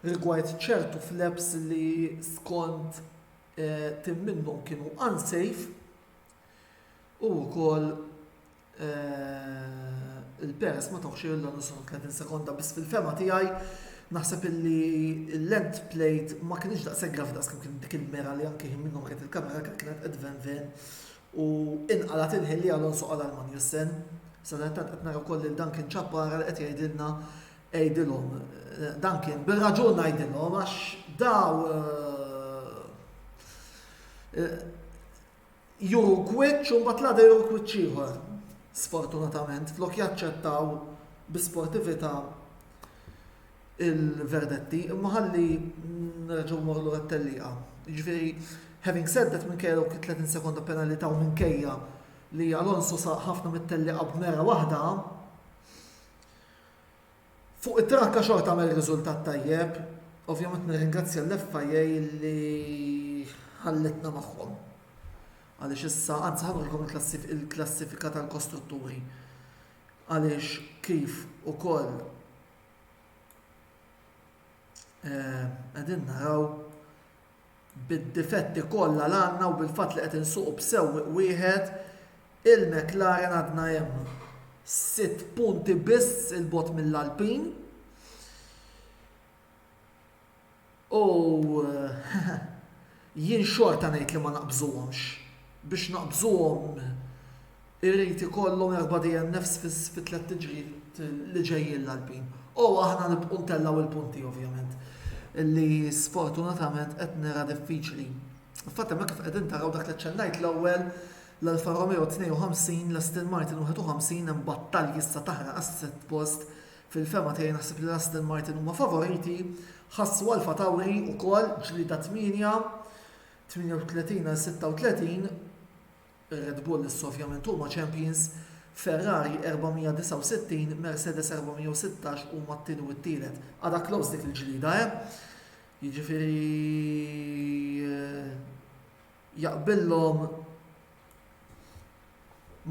rigward ċertu flaps li skont eh, tim minnhom kienu unsafe u wkoll il-Perez ma tawx il l 30 sekonda biss fil-fema tiegħi naħseb illi l-lent plate ma kienx daqshekk graf daqs kien dik il-mera li anke ħin minnhom kienet il-kamera kienet qed ven ven u inqalat il-ħin li Alonso qal għal Magnussen. Sadattant qed nara wkoll lil Duncan Chappara li qed jgħidilna għidilhom. Eh, dan kien bil-raġun ngħidilhom għax daw eh, eh, juru kwiċċ u mbagħad l-għada juru kwiċċ ieħor. Sfortunatament, flok jaċċettaw bi sportività il-verdetti, imma ħalli nerġgħu mmorru lura t-tellieqa. Jiġifieri, having said that minkejja dawk 30 sekonda penalità u minkejja li Alonso saq ħafna mit-tellieqa b'mera waħda, Fuq it-trakka xogħol tagħmel riżultat tajjeb, ovvjament nirringrazzja l-FIA li ħallitna magħhom għaliex issa anzi ħa nurikom il-klassifika tal-kostrutturi għaliex kif ukoll eh, qegħdin naraw Bid-difetti kollha l għandna u bil-fatt li qed insuqu b'sewwieq wieħed, il-McLaren għadna hemm sitt punti biss 'il bogħod mill-Alpine u jien xorta ngħid li ma naqbżuhomx. Biex naqbżuhom Irid ikollhom erba' DNFs fi tliet tiġrijiet li ġejjin l-Alpin. U aħna nibqgħu ntellgħu il-punti ovvjament li sfortunatament qed nera diffiċli. Fatt hemmhekk kif qegħdin taraw dak li ċċennajt l-ewwel l-Alfa Romeo 52, l-Aston Martin 51 hemm battalji issa taħraq għas-sitt post. Fil-fehma tiegħi naħseb li l-Aston Martin huma favoriti, ħassu Alfa Tauri wkoll ġlieda 8, 38 għal 36, Red Bull issa ovvjament huma champions, Ferrari 469, Mercedes 416 huma t-tieni u t-tielet. Għadha close dik il-ġlieda, eh? Jiġifieri eh, jaqbillhom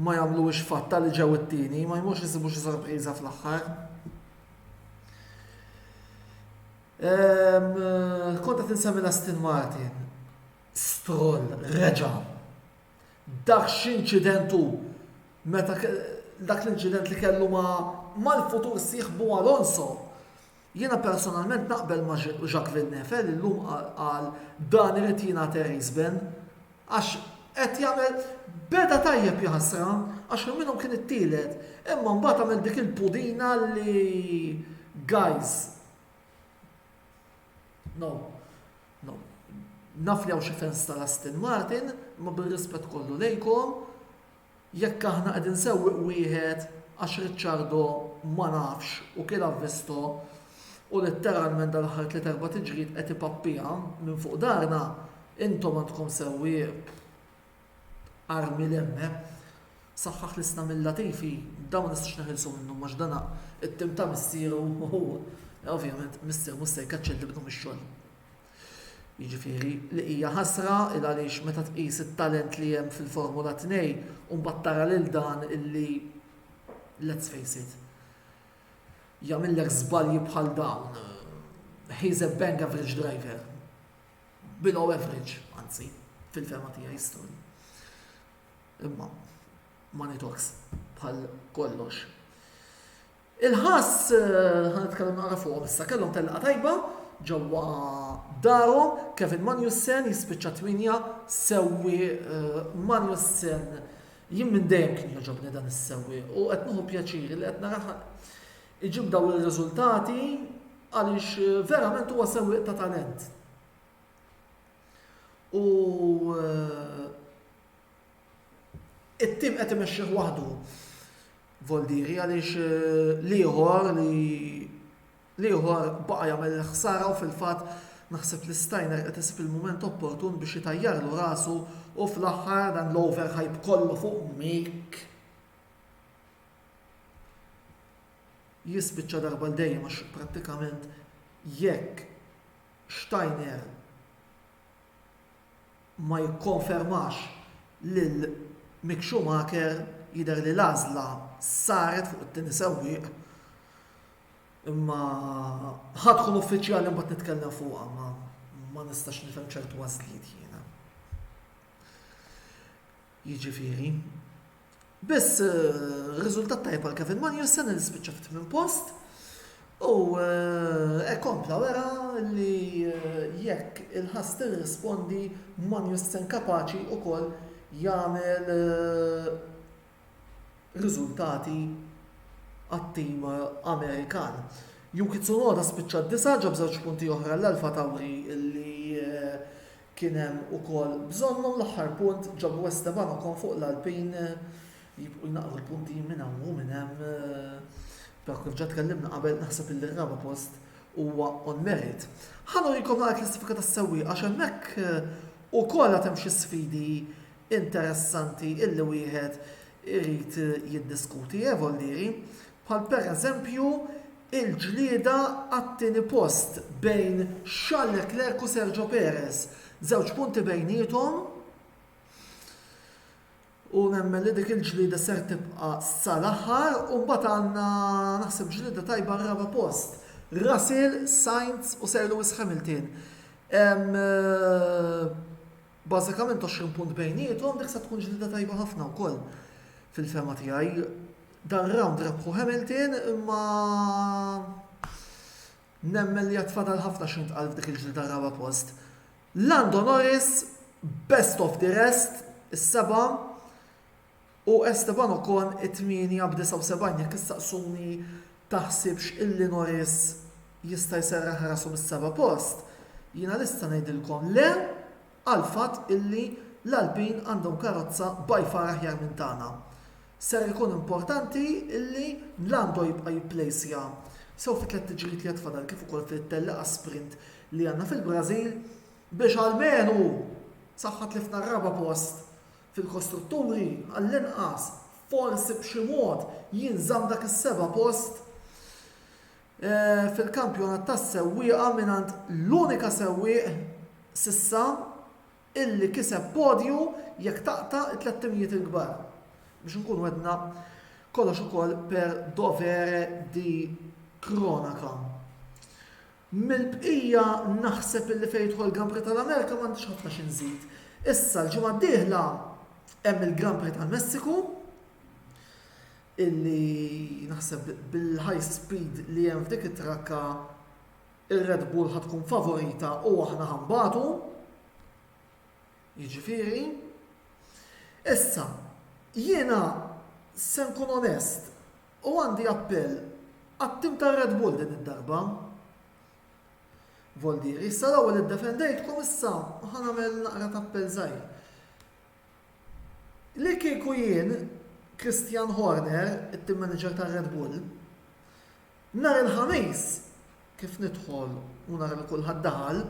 ma jagħmluhiex fatta li ġew it-tieni, ma jmux isibu xi sorpriża fl-aħħar. Ehm, Konta tinsemmi l-Aston Martin. Stroll reġa'. Dak x'inċident hu meta dak l-inċident li kellu ma' mal-futur sieħbu Alonso. Jiena personalment naqbel ma' Jacques Villeneuve li llum qal dan irid jingħad Erries Bin għax qed jagħmel beda tajjeb jaħasra għax minn minnhom kien it-tielet imma mbagħad għamel dik il-pudina li guys No, no. Naf li hawn xi fans ta' Aston Martin, imma bir-rispett kollu lejkom, jekk aħna qegħdin sewwieq wieħed għax Ricciardo ma nafx u kien avvisto u litteralment dal-aħħar tliet erba' tiġriet qed ipappiha minn fuq darna, intom għandkom sewwieq Armi Lemme saħħaħ li sna mill-latifi dan ma nistgħux neħilsu minnu għax dan it-tim ta' missieru u ovvjament missier mhux se jkeċċel lil ibnu mix-xogħol. Jiġifieri li hija ħasra il għaliex meta tqis it-talent li hemm fil-Formula 2 u mbagħad tara lil dan illi let's face it jagħmillek żbalji bħal dawn he's a bang average driver. below average, anzi, fil-fehma tiegħi s-stori. Imma, money talks, bħal kollox. Il-ħass, eh, ħan nitkellem naqra fuq issa, kellhom telqa tajba, ġewwa daru, Kevin Manjussen jispiċċa twinja sewwi eh, Manjussen jien minn dejjem kien joġobni dan is-sewwi u qed nieħu pjaċiri li qed naraħ Iġib dawn ir-riżultati għaliex verament huwa sewwieq ta' talent. U eh, it-tim qed imexxih waħdu Voldiri għaliex eh, liħor li liħor baqa' jagħmel ħsara u fil-fatt naħseb li stajna qed isib il-mument opportun biex jitajjarlu rasu u fl-aħħar dan l-overhype kollu fuq Mik. jispiċċa darba għal dejjem għax prattikament jekk Steiner ma jikkonfermax lil Mick Schumacher jidher li l-għażla saret fuq it-tieni sewwieq imma ħa tkun uffiċjali mbagħad nitkellem fuqha ma ma nistax nifhem ċertu għażliet jiena. Jiġifieri, biss riżultat tajjeb għal Kevin Magnussen li spiċċa fit-tmien post u hekk kompla wera li jekk il-ħass tirrispondi Magnussen kapaċi wkoll jagħmel riżultati għat-tim Amerikan. Yuki Tsunoda spiċċa d-disa' ġab żewġ punti oħra l-AlphaTauri li Kien hemm ukoll bżonnhom l-aħħar punt ġabu Esteban Ocon fuq l-Alpin jibqgħu jnaqqru l-punti minn hawn u minn hemm però kif ġa tkellimna qabel naħseb illi r-raba' post huwa on merit. Ħa nurikom naqra klassifika tas-sewwieqa għax hemmhekk ukoll għad hemm xi sfidi interessanti illi wieħed irid jiddiskuti, eh Vollieri? bħal pereżempju l-ġlieda għat-tieni post bejn Charles Leclerc u Sergio Perez, żewġ punti bejniethom u nemmen li dik il-ġlieda ser tibqa' sal-aħħar u mbagħad għandna naħseb ġlieda tajba r-raba' post. Russell, Sainz u Sir Lewis Hamilton. Bażikament għoxrin punt bejniethom, dik se tkun ġlieda tajba ħafna wkoll fil-fehma tiegħi. Dan rawnd rebħu Hamilton imma nemmen li għad fadal ħafna xi jintqal f'dik il-ġlieda raba' post. Lando Norris, best of the rest, is-seba' U Esteban Ocon it-tmienja b'79 jekk issaqsuni taħsibx illi Norris jista' jserraħ rasu mis-seba' post, jiena lesta ngħidilkom le għall-fatt illi l-Alpine għandhom karozza by far aħjar minn tagħna. Ser ikun importanti illi Lando jibqa' jipplejsja sew fit-tliet tiġrijiet li għad fadal kif ukoll fit-telliqa sprint li għandna fil-Brażil biex almenu saħħa tlifna r-raba' post fil-kostrutturi, għall-inqas, forsi b'xi mod, jinżamm dak is-seba' post fil-kampjonat tas-sewwieqa mingħand l-unika sewwieq s'issa illi kiseb podju jekk taqta' t-tliet timijiet il-kbar. Biex inkunu għedna kollox ukoll per dovere di cronaca. Mill-bqija naħseb illi fejn jidħol Grand Prix tal-Amerika m'għandix ħafna xi nżid. Issa l-ġimgħa d-dieħla hemm il-Grand Prix tal-Messiku illi naħseb bil-high speed li hemm f'dik it-trakka ir-Red Bull ħa tkun favorita u aħna ħa nbatu. Jiġifieri. Issa, jiena se nkun onest, U għandi appell għat-tim tar-Red Bull din id-darba. Voldieri, issa l-ewwel iddefendejtkom issa ħa nagħmel naqra ta' appell żgħir. Li kieku jien Christian Horner, it-tim manager tar-Red Bull, nhar il-Ħamis kif nidħol u nara li kulħadd daħal,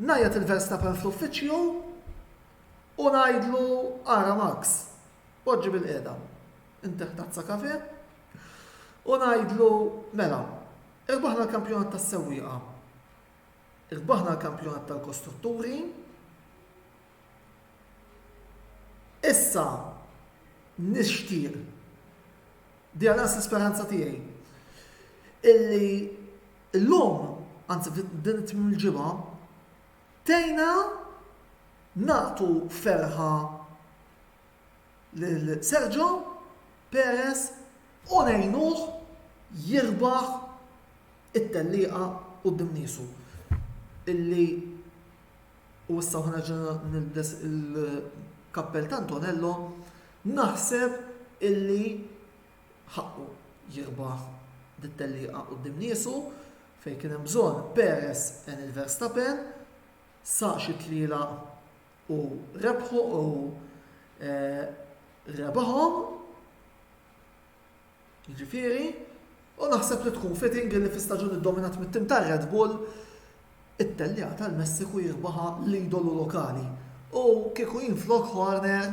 ngħajjat il-Verstappen fl-uffiċċju u ngħidlu ara Max, poġġi bil-qiegħda. Inter Tazza Café, u ngħidlu, mela, irbaħna l-kampjonat tas-sewwieqa, irbaħna l-kampjonat tal-kostrutturi, issa nixtieq, di għalas l-speranza tiegħi, illi l-lum, anzi din it-tmim il-ġimgħa, tejna naqtu ferħa lil Sergio Perez u ngħinuh jirbaħ it-tellieqa quddiem niesu illi u issa hawn nerġa' nilbes il-kappell ta' Antonello naħseb illi ħaqqu jirbaħ dit-tellieqa quddiem niesu fejn kien hemm bżonn Perez għen lil Verstappen sa xi tlielaq U rebħu u rebħhom, jiġifieri, u naħseb li tkun fitting li fi staġun iddominat mit-tim tar-Red Bull, it-telliegħa tal-Messiku jirbaħha l-idolu lokali. U kieku jien flok Horner,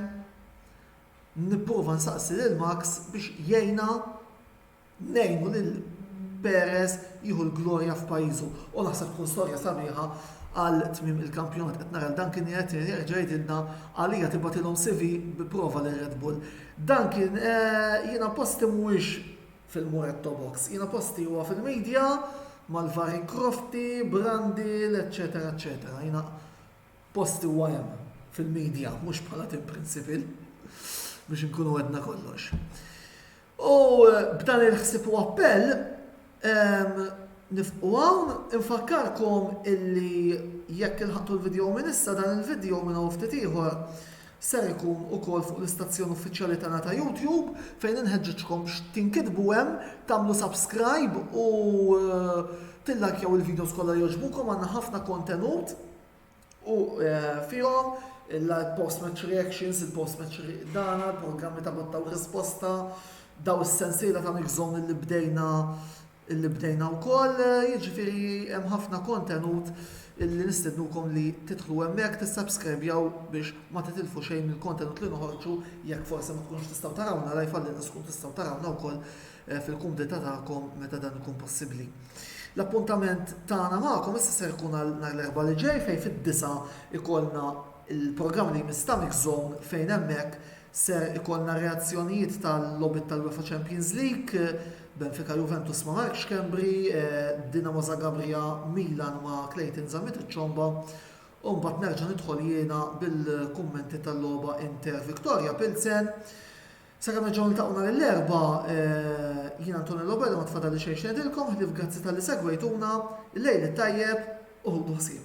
nipprova nsaqsi lil Max biex jgħinna Ngħinu lil Perez jieħu l-glorja f'pajjiżu u naħseb tkun storja sabiħa għal tmiem il-kampjonat. Qed nara lil Dan kien qed jerġa' jgħidilna għalija tibgħatilhom CV bi prova lil Red Bull. Dan kien jiena posti mhuwiex fil-Muretto Box. Jiena posti huwa fil-media mal-vari Crofty, Brundle, eċċetera eċċetera. Jiena posti huwa hemm fil-media mhux bħala tim principal biex inkunu għedna kollox. U b'dan il-ħsieb u appell, nifqu hawn, infakkarkom illi jekk ilħaqtu l-video minn issa, dan il-video minn hawn ftit ieħor ser ikun ukoll fuq l-istazzjon uffiċjali tagħna ta' YouTube fejn inħeġġiġkom biex tinkitbu hemm, tagħmlu subscribe u tillajkjaw il-videos kollha li jogħġbukom għandna ħafna kontenut. u fihom il-post-match reactions, il-post-match dana, il-programmi ta' botta u risposta, daw is-sensiela ta' Mix Zone li bdejna li bdejna wkoll, jiġifieri hemm ħafna kontenut li nistednukom li tidħlu hemmhekk tissubscribjaw biex ma titilfu xejn mill-kontenut li noħorġu jekk forsi ma tkunux tistgħu tarawna live għallinqas tkun tistgħu tarawna wkoll fil-kumdità tagħkom meta dan ikun possibbli. L-appuntament tagħna magħkom issa ser ikun għal nhar l-Erbgħa li ġej fejn fid-disa' ikollna l-programm li jmiss ta' Mix Zone fejn hemmhekk ser ikollna r-reazzjonijiet tal-logħbiet tal-UEFA Champions League, Benfica Juventus ma' Mark Schembri, Dinamo Zagabria Milan ma' Clayton Zammit iċ-Ċomba, u mbagħad nerġa' nidħol jiena bil-kummenti tal-logħba Inter Victoria Pilsen. Sakemm nerġgħu niltaqgħu nhar l-Erbgħa, jien Antonello Berra ma tfadalli xejn x'ngħidilkom ħlief grazzi talli segwejtuna, il-lejl it-tajjeb u ħudu ħsieb.